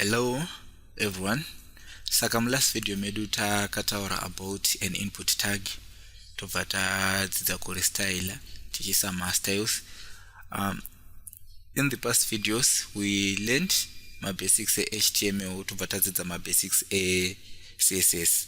hello everyone saka mulast video medu takataura about an input tag tobva tadzidza kurestyla tichiisa mastyles um, in the past videos we learned mabasics ehtml tobva tadzidza mabasics ecss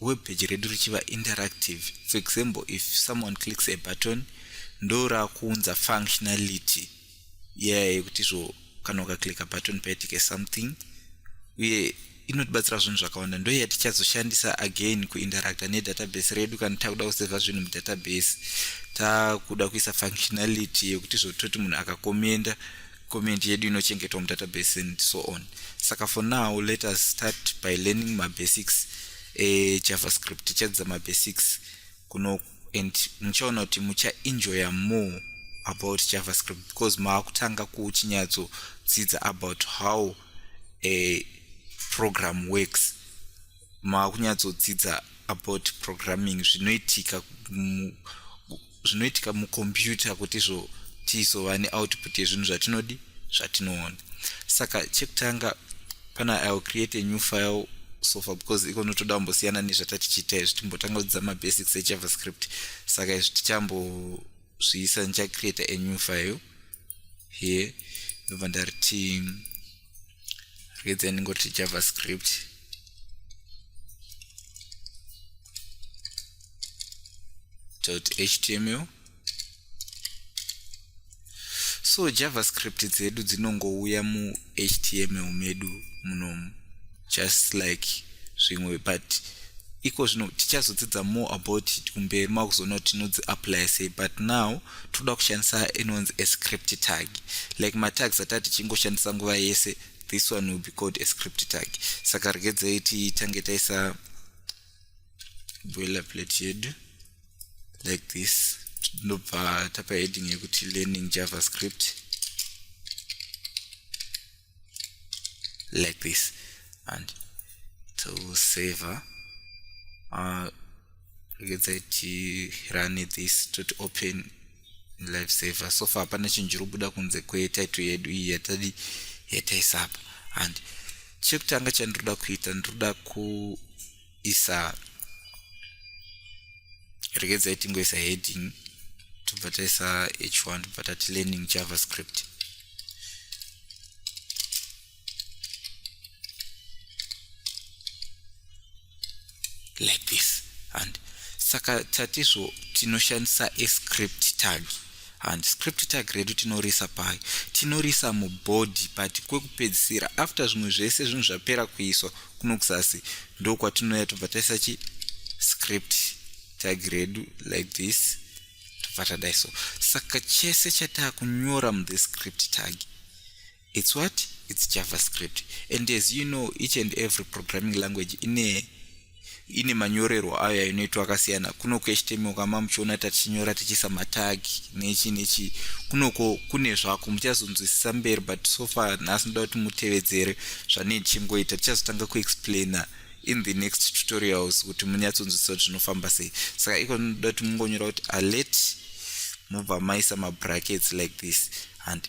web page redu richiva interactive for example if someone clicks a button ndorakuunza functionality iyaya yeah, yekuti zvo kana ukaclicka button paitike something uye inotibatsira zvinhu zvakawanda ndo yatichazoshandisa again kuinteracta nedatabase redu kana takuda kuseva zvinhu mudatabase takuda kuisa functionality yekuti zvototi munhu akakomenda comment yedu inochengetwa mudatabase and so on saka for now let us start by learning mabasics ejavascript tichadzidza mabasics kuno and muchaona kuti muchaenjoya more about javascript because maakutanga kuchinyatsodzidza about how a program works makunyatsodzidza about programming zvinoitika zvinoitika mucomputer kuti izvo tizova neoutput yezvinhu zvatinodi zvatinoona saka chekutanga pana ill create a new file sofa because iko notoda kumbosiyana nezvatatichiita izvi timbotanga kudzidza mabasics ejavascript saka izvi tichambozviisa ndichacreata a new file here ndobva ndariti reads and go to javascript dot html so javascript dzedu dzinongouya muhtml medu munomu just like zvimwe but iko zvino tichazodzidza more about it kumberi makuzoona kuti tinodzi apply sei but now toda kushandisa inonzi a script tag like matags ata tichingoshandisa nguva yese this one will be called a script tag saka regedzei titange taisa boiler plate yedu like this tinobva tapa heading yekuti learning javascript like this and tosaver uh, rekedza tirane this toti open life saver so far hapana chinhu chiri kubuda kunze kwetaito yedu iyi yatadi yataisapa and chekutanga chandinoda kuita ndinoda ku isa regedzai tingoisa heading tobva taisa h1 tobva tati learning javascript like this and saka tatizvo tinoshandisa escript tag And script tag redu tinoriisa pai? Tinoriisa mu body but kwekupedzisira after zvimwe zvese zvinhu zvapera kuiswa kuno kuzasi ndokwatinouya tobva taisa chi script tag redu like this tobva tadai so. Saka chese chatakunyora mu the script tag It's what? It's JavaScript. And as you know, each and every programming language ine ine manyorerwo ayo yainoitwa akasiyana kunoko html kama muchiona tatichinyora tichiisa matagi nechi nechi kunoko kune zvako muchazonzwisisa mberi but so far nhasi ndoda kuti mutevedzere zvanei ndichingoita tichazotanga kuexplaina in the next tutorials kuti munyatsonzwisisa kuti zvinofamba sei saka iko ndoda kuti mungonyora kuti alert mobva maisa mabrackets like this and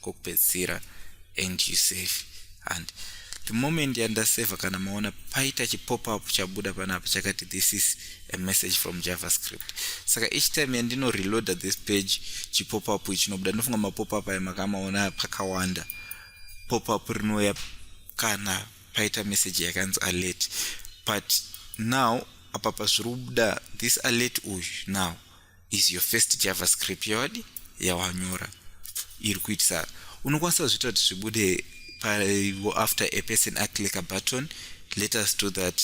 kokupedzisira and you save and the moment yandaseva kana maona paita chipopup chabuda panapa chakati this is a message from javascript saka each time yandino reloader this page chipopup ichinobuda ndinofunga mapopup ayo makamaona pakawanda popup rinouya kana paita message yakanzi alert but now apa pazviri kubuda this alert uyu now is your first javascript yawadi yawanyora iri kuitisa unokwanisa kuzviita kuti zvibude after a person aclick a button let us do that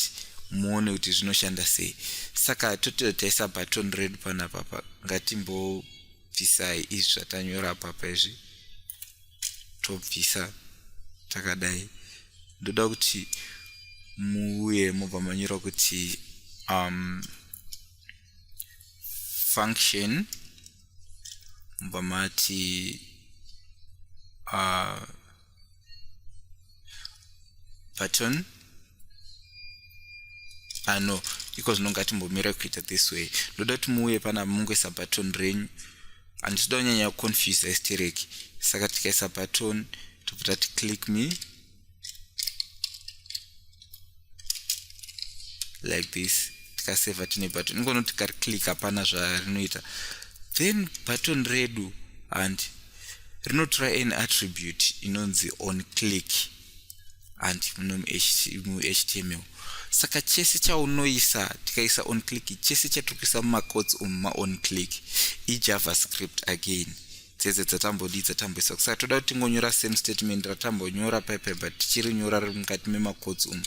muone kuti zvinoshanda sei saka tototaisa button redu pana papa ngatimbobvisai izvi zvatanyora papa izvi tobvisa takadai ndoda kuti muuye mobva manyora kuti um, function mobva mati uh, button ah no iko zvino ngatimbomira kuita this way ndoda kuti muuye pana mungoisa button renyu handisida kunyanya kuconfuse estereki saka tikaisa button tobva tati click me like this tikaseva tine button ingono tikariclick hapana zvarinoita then button redu and rinotora an attribute inonzi on click and muhtml saka chese chaunoisa tikaisa on click chese chatikuisa mumacots umu maon click ijavascript again dzese dzatambodii dzatambisa kusaka toda kuti tingonyora same statement ratambonyora paipaya but tichirinyora riri mukati memacots umu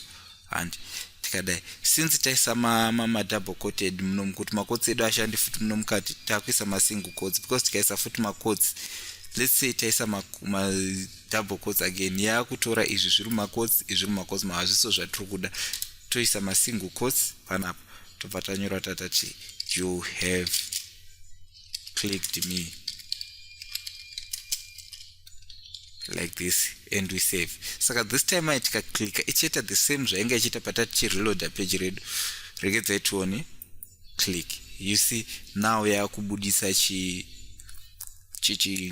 handi tikadai since taisa madouble coted muno mukuti macots edu ashandi futi muno mukati takuisa masingle cots because tikaisa futi macots let's say taisa madouble cots again yaakutora izvi zviri mumacots izvi mumacots mahazviso zvatiri kuda toisa masingle cots panapa tobva tanyora tatati you have clicked me like this and we save saka this time ai tikaclicka ichiita the same zvainge ichiita patati chireloada page redu regedzai tione click you see now yaakubudisa chi chichi